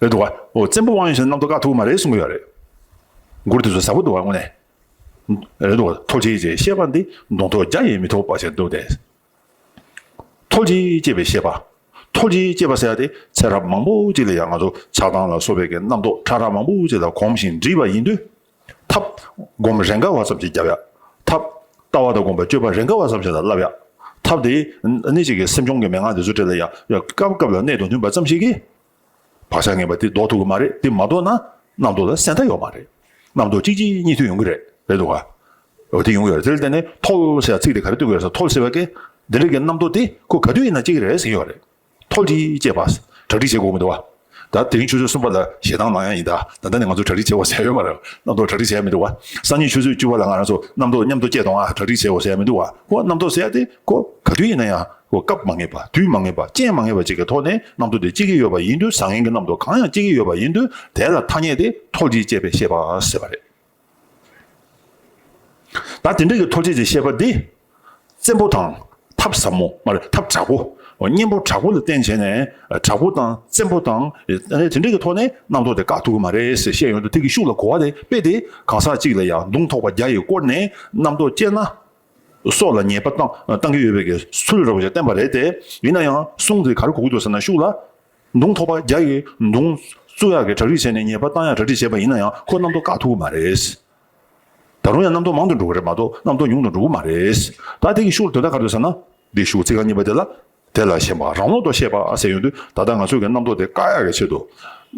རེད་འདུག་བ། བཙན་པོ་དབང་ཡོད་ཕྱིན་རྣམ་རྟོག་དཀའ་ཐུབ་མ་རེད་གསུང་གི་ཡོད་རེད། མགུར་དེ་ཚོ་ཟབ་པོ་འདུག་བ་དངོས་ནས། རེད་འདུག་བ། ཐོབ་བྱེད་ཅེས་བཤད་པ་འདི་མདོང་ཐོག་རྒྱ་ཡིས་མི་ཐོབ་པ་ཞིག་འདུག་སྟེ། ཐོབ་བྱེད་ཅེས་པའི་བཤད་པ། ཐོབ་བྱེད་ཅེས་པ་ཟེར་བ་དེ་ཚེ་རབས་མང་པོ་ཅིག་ལ་ཡང་ང་ཚོ་ཆགས་སྡང་ལ་སོགས་པའི་གི་རྣམ་རྟོག་ཁྲ་ཁྲ་མང་པོ་ཅིག་ལ་གོམས་ཤིང་འདྲིས་པ་ཡིན་དུས། ཐབ། བསྒོམ་པ་རེས་འགའ་བ་ཙམ་གྱིས་བརྒྱབ་ཡ། ཐབ། ལྟ་བ་དང་བསྒོམ་པའི་སྤྱོད་པ་རེས་འགའ་བ་ཙམ་གྱིས་བསླབ་ཡ། ཐབ། དེ་ནི་གཅིག་གིས་སེམས་བྱུང་གི་མན་ངག་འདི་ཚོ་བྲལ་ཡ། སྐབས་སྐབས་ལ་གནད་དང་མཐུན་པ་ཙམ་ཞིག་གིས། བག་ཆགས་ངན་པ་དེ་ཟློག་ཐུབ་ཀྱི་མ་རེད་དེ་མ་ཟློག་ན། རྣམ་རྟོག་ལ་གསལ་མཐའ་ཡོད་མ་རེད། རྣམ་རྟོག་གཅིག་གཅིག་གཉིས་མཐུད་ཡོང་གི་རེད། རེད་འདུག་ག། འོ་དེ་ཡོང་གི་རེད་དེར་བརྟེན་ནས་ཐོལ་ཞེས་ཚིག་དེ་ག་རེ་བཏོན་གི་རེད་ཟེར་ཐོལ་ཟེར་བ་ཀས། འདི་འདྲ་གི་རྣམ་རྟོག་དེ་ཁོ་ག་དུས་ཡིན་ན་སྐྱེ་གི་རེད་ཟེར་གྱི་ཡོད་རེད། མཐོ་སྒྲིལ་བཅས་པ། གྲ་སྒྲིག་བྱེད་དགོས་མི་འདུག་བ། ད་དེ་རིང་ཆུ་ཚོད་གསུམ་པ་ལ་ཞེ་སྡང་ནང་ཡང་ཡིན་ད། ད་ལྟ་ནས་ང་ཚོ་གྲ་སྒྲིག་བྱེད་འོ་ཟེར་ཡོད་མ་རེད་བ། རྣམ་རྟོག་གྲ་སྒྲིག་བྱེད་ཡ་མི་འདུག་བ། སང་ཉིན་ཆུ་ཚོད་བཅུ་བ་ལ་ང་རང་ཚོ་རྣམ་རྟོག་མཉམ་དུ་སྐྱེལ་གཏོང་ཨ་གྲ་སྒྲིག་བྱེད་འོ་ཟེར་ཡ་མི་འདུག་བ། ཁོ་རྣམ་རྟོག་ཟེར་ཡ་དེ་ཁོ་ག་དུས་ཡིན་ན་ཡང་ཁོ་སྐབས་མ་ངེས་པ་དུས་མ་ངེས་པ་རྐྱེན་མ་ངེས་པ་བཅས་ཀྱི་ཐོག་ནས་རྣམ་རྟོག་དེ་སྐྱེ་གི་ཡོད་པ་ཡིན་དུས་བཟང་ངན་གྱི་རྣམ་རྟོག་གང་ཡང་སྐྱེ་གི་ཡོད་པ་ཡིན་དུས་དེ་ལ་ཐ་སྙད་དེ་མཐོ་སྒྲིལ་བཅས་པས་ཤེས་པ་ཟེར་བ་རེད། ད་དེ་འདྲ་ཡི་ཐོ་བྱེད་ཀྱི་བཤད་པ་འདི། བཙན་པོ་དང་ཐབས་ཟབ་མོ་མ་རེད་ཐབས་དྲག་པོ། གཉེན་པོ་དྲག་པོ་ལ་བརྟེན་བྱས་ནས་དྲག་པོ་དང་བཙན་པོ་དང། དེ་འདྲ་ཡི་ཐོག་ནས་རྣམ་རྟོག་དེ་དགག་ཐུབ་ཀྱི་མ་རེད་ཟེར་བཤད་ཡོང་དུས་ཐིག་གི་ཤུགས་ལ་གོ་བ་དེ་དཔེ་དེ་གང་ཟག་གཅིག་ལ་ཡང་མདུང་ཐོགས་པ་བརྒྱ་ཡིས་བསྐོར་ནས་རྣམ་རྟོག་སྐྱེས་ན། སྲོག་ལ་ཉེས་པ་བཏང་གི་ཡོད་པའི་གསུལ་རོགས་ཞེས་བསྟན་པ་རེད་དེ། ཡིན་ན་ཡང་གསུང་དེ་ག་རེ་གོ་གི་འདུག་ཟེར་ན་ཤུགས་ལ། མདུང་ཐོགས་པ་བརྒྱ་ཡི་མདུང། བཙུགས་ཡག་གི་གྲ་སྒྲིག་བྱས་ནས་ཉེས་པ་བཏང་ཡག་གྲ་སྒྲིག་བྱས་པ་ཡིན་ན་ཡང་ཁོ་རྣམ་རྟོག་དགའ་ཐུག་གི་མ་རེད། ད་རུང་ཡང་རྣམ་རྟོག་མང་དུ་འགྲོ་གི་རེད་མ་གཏོགས་རྣམ་རྟོག་ཉུང་དུ་འགྲོ་གི་མ་རེད། ད་དེ་གི་ཤུགས་ལ་དོན་དག་ག་རེད་ཟེར་ན། འདིའི་ཤུགས་ཚིག་རྐང་གཉིས་པ་དེ་ལ། དེ་ལ་ཞེན་པ་རང་ལོག་ཏུ་བཤད་པ་ཟེར་ཡོང་དུས་ད་ལྟ་ང་ཚོས་ཀྱི་རྣམ་རྟོག་དེ་བཀག་ཡག་གི་ཆེད་དུ།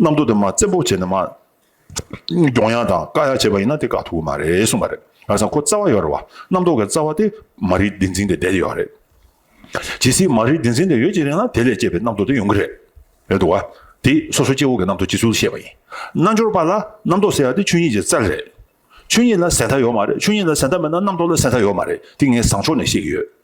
རྣམ་རྟོག་དེ་མ་བཙན་པོ་བྱས་ནས་མ། གྱོང་ཡག་དང་དཀའ་ཡག་བྱས་པ་ཡིན་ན་དེ་དཀའ་ཐུབ་ཀྱི་མ་རེད་གསུངས་པ་རེད། ང་ཚང་ཁོ་རྩ་བ་ཡོད་རེད་བ། རྣམ་རྟོག་གི་རྩ་བ་དེ་མ་རིག་བདེན་འཛིན་དེ་བསྡད་ཡོད་རེད། ཇི་སྲིད་མ་རིག་བདེན་འཛིན་དེ་ཡོད་ཀྱི་རེད་ན་དེ་ལས་སྐྱེས་པའི་རྣམ་རྟོག་དེ་ཡོང་གི་རེད། རེད་འདུག་བ། དེ་སོ་སོ་སྐྱེ་བོ་གི་རྣམ་རྟོག་སྤྱི་ཚུལ་བཤད་པ་ཡིན། རྣལ་འབྱོར་པ་ལ་རྣམ་རྟོག་ཟེར་བ་དེ་ཆོས་ཉིད་ཀྱི་རྩལ་རེད། ཆོས་ཉིད་ལ་ཟད་མཐའ་ཡོད་མ་རེད་ཆོས་ཉིད་ལ་ཟད་མཐའ་མེད་ན་རྣམ་རྟོག་ལ་ཟད་མཐའ་ཡོད་མ་རེད་དེ་ངས་བཟང་ཕྱོགས་ནས་བཤད་ཀྱི་ཡོད།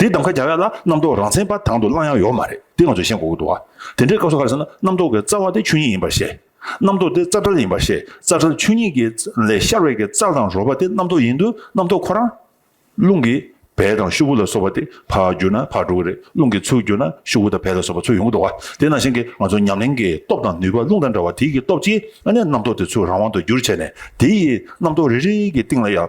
དེའི་གདམ་ཁ་རྒྱག་ཡ་ལ་རྣམ་རྟོག་རང་མཚན་པ་དང་དུ་བླང་ཡང་ཡོག་མ་རེད་དེ་ང་ཚོས་ཤེས་དགོས་ཀྱི་འདུག་བ། དེ་འདྲའི་སྐབས་སུ་ག་རེ་ཟེར་ན་རྣམ་རྟོག་གི་རྩ་བ་དེ་ཆོས་ཉིད་ཡིན་པར་བཤད། རྣམ་རྟོག་དེ་རྩ་བྲལ་ཡིན་པར་བཤད་རྩ་བྲལ་ཆོས་ཉིད་ཀྱི་ལས་ཤར་བས་ཀྱི་རྩ་དང་རོལ་པ་དེ་རྣམ་རྟོག་ཡིན་དུས་རྣམ་རྟོག་ཁོ་རང། རླུང་གི་བལ་དང་ཤུབ་བུ་ལ་སོགས་པ་དེ་ཕར་བསྒྱུར་ན་ཕར་འགྲོ་གི་རེད་རླུང་གི་ཚུལ་བསྒྱུར་ན་ཤུབ་བུ་དང་བལ་ལ་སོགས་པ་ཚུལ་ཡོང་གི་འདུག་བ། དེ་ནང་བཞིན་གྱི་ང་ཚོ་ཉམས་ལེན་གྱི་སྟོབས་དང་ནུས་པ་རླུང་དང་འདྲ་བ་དེའི་གྱི་སྟོབས་ཀྱིས་ཨ་ནས་རྣམ་རྟོག་དེ་ཚུལ་རང་དབང་དུ་བསྒྱུར་བྱས་ནས་དེ་ཡིས་རྣམ་རྟོག་རེ་རེའི་གྱི་སྟེང་ལ་ཡང་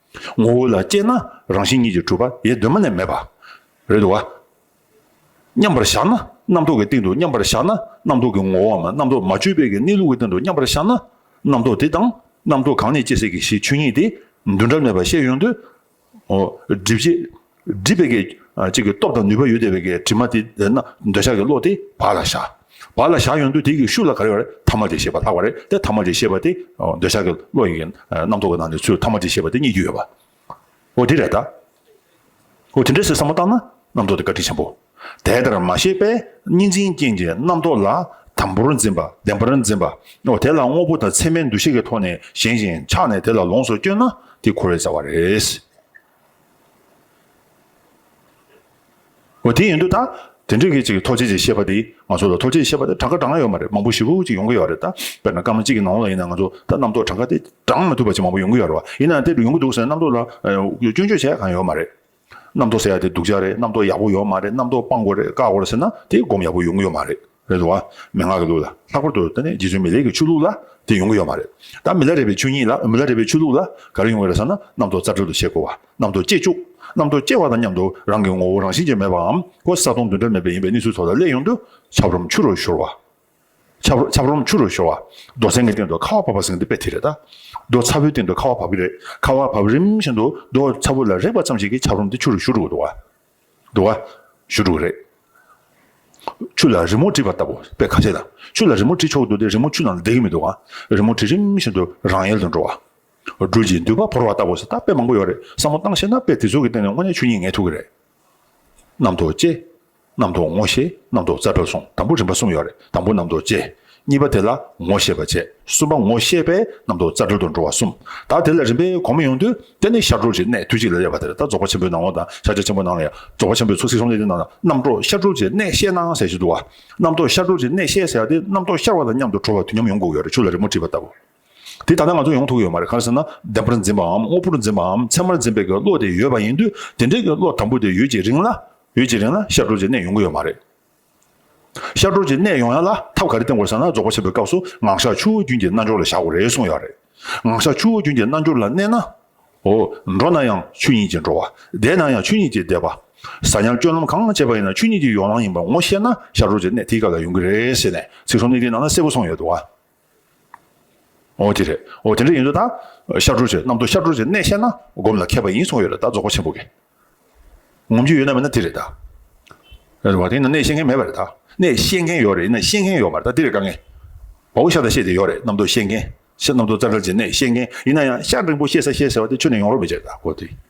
ངོ་བོ་ལ་དཔྱད་ན་རང་བཞིན་ཉིད་ཀྱི་གྲུབ་པ་ཡེ་གདོད་མ་ནས་མེད་པ། རེད་དོ། མཉམ་པར་བཞག་ན་རྣམ་རྟོག་གི་སྟེང་དུ་མཉམ་པར་བཞག་ན་རྣམ་རྟོག་གི་ངོ་བོའམ་རྣམ་རྟོག་མ་བཅོས་པའི་གནས་ལུགས་ཀྱི་སྟེང་དུ་མཉམ་པར་བཞག་ན་རྣམ་རྟོག་དེ་དང་རྣམ་རྟོག་གང་ནས་སྐྱེ་སྲིད་ཀྱི་ཞེས་ཆོས་ཉིད་དེ་འདུ་འབྲལ་མེད་པར་ཤེས་ཡོང་དུས། སྒྲིབ་བྱེད། སྒྲིབ་པའི་གེགས་ཀྱི་སྟོབས་དང་ནུས་པ་ཡོད་དེ་བའི་གེགས་དྲི་མ་དེ་བདེན་ན་འདོད་ཆགས་ཀྱི་བློ་དེ་བག་ལ་བཞག། བག་ལ་བཞག་ཡོང་དུས་དེ་ཀྱི་ཤུགས་ལ་ག་རེ་བ་རེ་ཐ་མ་དྲི་ཞེས་པ་ལྷག་པ་རེ་སྟེ་ཐ་མ་དྲི་ཞེས་པ་དེ་འདོད་ཆགས་ཀྱི་བློ་ཡི་རྣམ་རྟོག་གི་ནང་ནས་ཚུལ་ཐ་མ་དྲི་ཞེས་པ་དེ་རྙེད་རྒྱུ་ཡོད་པ། འོ་དེ་རེད་ད། འོ་དེ་འདྲའི་ཟེར་བསམ་བློ་བཏང་ན་རྣམ་རྟོག་དེ་བཀའ་དྲིན་ཆེན་པོ། དེ་ལྟར་མ་ཤེས་པས་གཉིས་འཛིན་རྐྱེན་གྱིས་རྣམ་རྟོག་ལ་དམ་པོར་འཛིན་པ་བདེན་པར་འཛིན་པ། འོ་དེ་ལ་དངོས་པོ་དང་མཚན་མའི་འདུ་ཤེས་ཀྱི་ཐོག་ནས་ཞེན་ཅིང་ཆགས་ནས་དེ་ལ་ལོངས་སུ་སྤྱོད་ན་དེ་འཁོར་བའི་རྩ་བ་རེད། འོ་དེ་ཡིན་འདུག་ད། དེ་འདྲའི་གི་ཅིག་ཐོག་ཆེ་ཅིག་བཤད་པ་དེའི་ང་ཚོ་ལ་ཐོག་ཆེ་བཤད་པ་དེ་གྲངས་ཀ་གྲངས་ཡོད་མ་རེད་མང་པོ་ཞིག་ཅིག་ཡོང་གི་ཡོད་རེད་ད། དཔེར་ན་སྐར་མ་གཅིག་གི་ནང་ལ་ཡིན་ན་ང་ཚོ་ད་རྣམ་རྟོག་གྲངས་ཀ་དེ་བགྲང་མ་ཐུབ་པ་ཅིག་མང་པོ་ཡོང་གི་ཡོད་རེད་བ། ཡིན་ན་དེ་འདྲ་ཡོང་གི་འདུག་ཟེར་ན་རྣམ་རྟོག་ལ་སྐྱོན་བརྗོད་བྱས་གང་ཡོད་མ་རེད། རྣམ་རྟོག་ཟེར་ཡ་དེ་སྡུག་ཅག་རེད་རྣམ་རྟོག་ཡག་པོ་ཡོད་མ་རེད་རྣམ་རྟོག་སྤང་དགོས་རེད་བཀག་དགོས་རེད་ཟེར་ན་དེ་སྒོམ་ཡག་པོ་ཡོང་གི་ཡོད་མ་རེད། རེད་དོ། མན་ངག་གི་ལུགས་ལ་ལྷག་པར་དུ་ད་ནི་རྗེ་བཙུན་མི་ལེགས་ཀྱི་ཆོས་ལུགས་ལ་དེ་ཡོང་གི་ཡོད་མ་རེད། ད་མི་ལ་རས་པའི་ཆོས་ཉིད་ལ་མི་ལ་རས་པའི་ཆོས་ལུགས་ལ་ག་རེ་ཡོང་གི་རེད་ཟེར་ན་གནམ་ཐོག་རྩ་འགྲེལ་དུ་བྱེད་དགོས་བ། གནམ་ཐོག་སྐྱེས་བཅུག། གནམ་ཐོག་སྐྱེ་བ་དང་མཉམ་དུ་རང་གི་ངོ་བོ་རང་བཞིན་ཅན་མེད་པའམ་ཀོ་ས་སྟོང་བདུན་འདྲ་མེད་པ་ཡིན་པའི་གནས་ཚུལ་ཚོ་ལ་སླད་ཡོང་དུས་ཆབ་རོམ་ཆུ་རུ་ཤོར་བ། ཆབ། ཆབ་རོམ་ཆུ་རུ་ཤོར་བ། རྡོ་སེང་གི་སྟེང་དུ་ཁ་བ་བབས་པ་ཟེར་གི་འདུག་དཔེ་དེ་རེད་ད། རྡོ་ཚ་བོའི་སྟེང་དུ་ཁ་བ་བབས་ཀྱི་རེད། ཁ་བ་བབས་རིམ་བཞིན་དུ་རྡོ་ཚ་བོ་ལ་རེག་པ་ཙམ་ཞིག་གིས་ཆབ་རོམ་དེ་ཆུ་རུ་བཞུར་འགྲོ་གི་འདུག་བ། འགྲོ་བ། བཞུ་དྲུག་རེད། ཆུ་ལ་རི་མོ་བྲིས་པ་ལྟ་བུ་དཔེ་ཁ་ཤས་དང་ཆུ་ལ་རི་མོ་བྲིས་ཆོག་འདུག་དེ་རི་མོ་ཆུ་ནང་ལ་བསྡད་ཀྱི་མི་འདུག་ག་རི་མོ་བྲིས་རིམ་བཞིན་དུ་རང་ཡལ་དུ་འགྲོ་བ། སྦྲུལ་གྱིས་མདུད་པ་བོར་བ་ལྟ་བུ་སོགས་ད་དཔེ་མང་པོ་ཡོད་རེད་བསམ་བློ་བཏང་ཤེས་ན་དཔེ་དེ་ཚོ་གི་སྟེང་ནས་དངོས་གནས་ཆོས་ཉིད་ངེས་ཐུབ་ཀྱི་རེད། གནམ་ཐོག་ཅེས། གནམ་ཐོག་ངོ་ཤེས་གནམ་ཐོག་རྩ་བྲལ་སོང་དང་པོ་རིམ་པ་གསུམ་ཡོད་རེད་དང་པོ་གནམ་ཐོག་ཅེས་གཉིས་པ་དེ་ལ་ངོ་ཤེས་པར་བྱེད་གསུམ་པ་ངོ་ཤེས་པས་རྣམ་རྟོག་རྩ་དྲུག་ཏུ་འགྲོ་བ་གསུམ་དག་དེ་ལ་རིམ་པས་གོང་མ་ཡོང་དུས་དེ་ནི་ཤར་གྲོགས་ཀྱི་གནས་དུས་གཅིག་ལ་དབྱེ་བ་དེ་ལྟར་རྫོགས་པ་ཆེན་པོའི་ནང་ངོ་དང་ཤར་ཕྱོགས་ཆེན་པོའི་ནང་ཡང་རྫོགས་པ་ཆེན་པོའི་ཚོགས་སྲིད་ཟུང་འབྲེལ་གྱི་ནང་ན་རྣམ་རྟོག་ཤར་གྲོགས་ཀྱི་གནས་ཤེས་སྣང་ཟད་ཅིག་འདུག་བ། རྣམ་རྟོག་ཤར་གྲོགས་ཀྱི་གནས་ཤེས་ཟེར་བ་དེ་རྣམ་རྟོག་ཤར་བ་དང་མཉམ་དུ་གྲོལ་བ་དུས་མཉམ་ཡོང་དགོས་ཀྱི་རེད་ཆུ་ལ་རི་མོ་བྲིས་པ་ལྟ་བུ། དེ་ད་ལྟ་ང་ཚོར་ཡོང་ཐུབ་ཀྱི་ཡོད་མ་རེད་གང་ཟེར་ན་བདེན་པར་འཛིན་པའམ་དངོས་པོར་འཛིན་པའམ་མཚན་མར་འཛིན་པའི་གི་བློ་དེ་ཡོད་པ་ཡིན་དུས་དེ་འདྲའི་གི་བློ་དམ་པོ་དེ་ཡོད་ཀྱི་རིང་ལ་ཡོད་ཀྱི་རིང་ལ་ཤར་གྲོགས་ཀྱི་གནས་ཡོང་གི་ཡོད་མ་རེད། ཤར་གྲོང་ཁྱེར་གནས་ཡོང་ཡ་ལ་ཐབས་ག་རེ་བསྟེན་དགོས་ཟེར་ན་རྫོགས་པ་ཆེན་པོའི་སྐབས་སུ་ངག་ཞག་ཆུ་བོ་རྒྱུན་གྱི་རྣལ་འབྱོར་ལ་བཞག་དགོས་རེད་གསུངས་ཡ་རེད། ངག་ཞག་ཆུ་བོ་རྒྱུན་གྱི་རྣལ་འབྱོར་ལ་གནས་ན། འོ། འགྲོ་ན་ཡང་ཆོས་ཉིད་ཀྱིས་འགྲོ་བ། བསྡད་ན་ཡང་ཆོས་ཉིད་ཀྱིས་བསྡད་པ། ཟ་ཉལ་སྤྱོད་ལམ་གང་སྤྱད་པ་ཡིན་ན་ཆོས་ཉིད་ཀྱི་ཡོ་ལང་ཡིན་པ་ངོ་ཤེས་ན་ཤར་གྲོང་ཁྱེར་གནས་དེའི་སྐབས་ལ་ཡོང་གི་རེད་ཟེར་ནས་ཚིག་ཟོམ་གཉིས་ཀྱི་ནང་ན་གསལ་པོ་གསུངས་ཡོད་འདུག་བ། ཨོ་དེ་རེད། ཨོ་དེ་འདྲ་ཡིན་དུས་ད། ཤར་གྲུར་བྱེད་གནམ་དུ་ཤར་གྲུར་བྱེད་གནས་བཤད་ན་སྒོམ་ལ་མཁས་པ་ཡིན་གསུངས་ཡོད་རེད་ད་རྫོགས་པ་ཆེན་པོ་དགེ། ངོམ་རྒྱུ་ཡོད་ན་མེད་ན་དེ་རེད་ད། རེད་བ་དེ་ཡིན་ན་གནས་བཤད་མཁན་མེད་པ་རེད་ད། གནས་བཤད་མཁན་ཡོད་རེད་ཡིན་ན་ཤེས་མཁན་ཡོད་མ་རེད་ད་དེ་རེད་དཀའ་ངལ། བའོ་ཤར་ད་བཤད་དེ་ཡོད་རེད་གནམ་དུ་བཤད་མཁན། གནམ་དུ་རྩ་འགྲེལ་བྱེད་གནས་བཤད་མཁན་ཡིན་ན་ཡང་ཤར་རིང་པོ་བཤད་ས་བཤད་ཟེར་བ་དེ་ཆུ་ནས་ཡོང་རོགས་མེད་ཅེས་ད་གོ་དེ།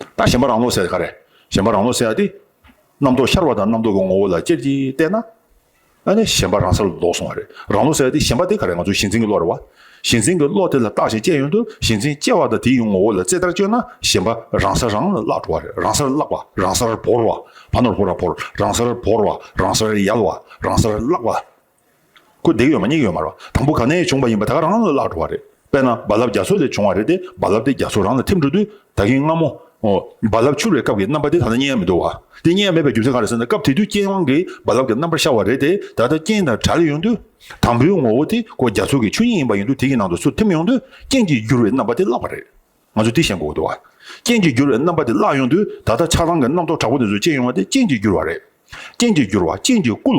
ད་གཞན་པ་རང་ལོག་ཟེར་ཏེ་ག་རེ། གཞན་པ་རང་ལོག་ཟེར་ཡ་དེ། རྣམ་རྟོག་ཤར་བ་དང་རྣམ་རྟོག་གི་ངོ་བོ་ལ་ཅེར་གྱིས་བལྟས་ན། ཨ་ནི་གཞན་པ་རང་ས་ལ་ལོག་སོང་བ་རེད། རང་ལོག་ཟེར་ཡ་དེ་གཞན་པ་དེ་ག་རེ་ང་ཚོ་ཞེན་འཛིན་གྱི་བློ་རེད་བ། ཞེན་འཛིན་གྱི་བློ་དེ་ལ་བརྟགས་ཤིང་དཔྱད་ཡོང་དུས་ཞེན་འཛིན་སྐྱེ་བ་དང་དེའི་ཡུལ་ངོ་བོ་ལ་རྩེ་ལྟར་དཔྱོད་ན་གཞན་པ་རང་ས་རང་ལ་བརླག་འགྲོ་བ་རེད་རང་སར་བརླག་པ་རང་སར་བོར་བ། བ་ནོར་བོར་བ་བོར་རང་སར་བོར་བ་རང་སར་ཡལ་བ་རང་སར་བརླག་པ། ཁུ་རྡེག་ཡོད་མ་སྙིགས་ཡོད་མ་རེད། དང་པོ་ག་ནས་བྱུང་བ་ཡིན་པ་ད་ག་རང་ལ་བརླག་འགྲོ་བ་རེད། དཔེར་ན་རྦ་རླབས་རྒྱ་མཚོ་ལས་བྱུང་བ་རེད་དེ་རྦ་རླབས་དེ་རྒྱ་མཚོ་རང་ལ་ཐིམ་འགྲོ་དུས་ད་གིན་སྔ་མོ། རྦ་རླབས་འཕྱུར་བའི་སྐབས་ཀྱི་རྣམ་པ་དེ་ད་ལྟ་རྙེད་ཡ་མི་འདུག་བ། དེ་རྙེད་ཡ་མེད་པའི་རྒྱུ་མཚན་ག་རེད་ཟེར་ན་སྐབས་དེ་དུས་རྐྱེན་དབང་གིས་རྦ་རླབས་ཀྱི་རྣམ་པར་ཤར་བ་རེད་དེ་ད་ལྟ་རྐྱེན་དང་དྲག་ཡོང་དུས། དང་པོའི་ངོ་བོ་དེ་ཁོ་རྒྱ་མཚོ་གི་ཆུ་སྙིགས་ཡིན་པ་ཡིན་དུས་དེ་གི་ནང་དུ་ཚུར་ཐིམ་ཡོང་དུས་རྐྱེན་གྱིས་བསྒྱུར་བའི་རྣམ་པ་དེ་བརླག་པ་རེད། ང་ཚོས་དེ་ཤེས་དགོས་ཀྱི་འདུག་བ། རྐྱེན་གྱིས་བསྒྱུར་བའི་རྣམ་པ་དེ་བརླག་ཡོང་དུས་ད་ལྟ་ཆགས་སྡང་གི་རྣམ་རྟོག་དྲག་པོ་དེ་ཚོས་བསྐྱེད་ཡོང་བ་དེ་རྐྱེན་གྱིས་བསྒྱུར་བ་རེད། རྐྱེན་གྱིས་བསྒྱུར་བ་རྐྱེན་གྱིས་བསྐུལ།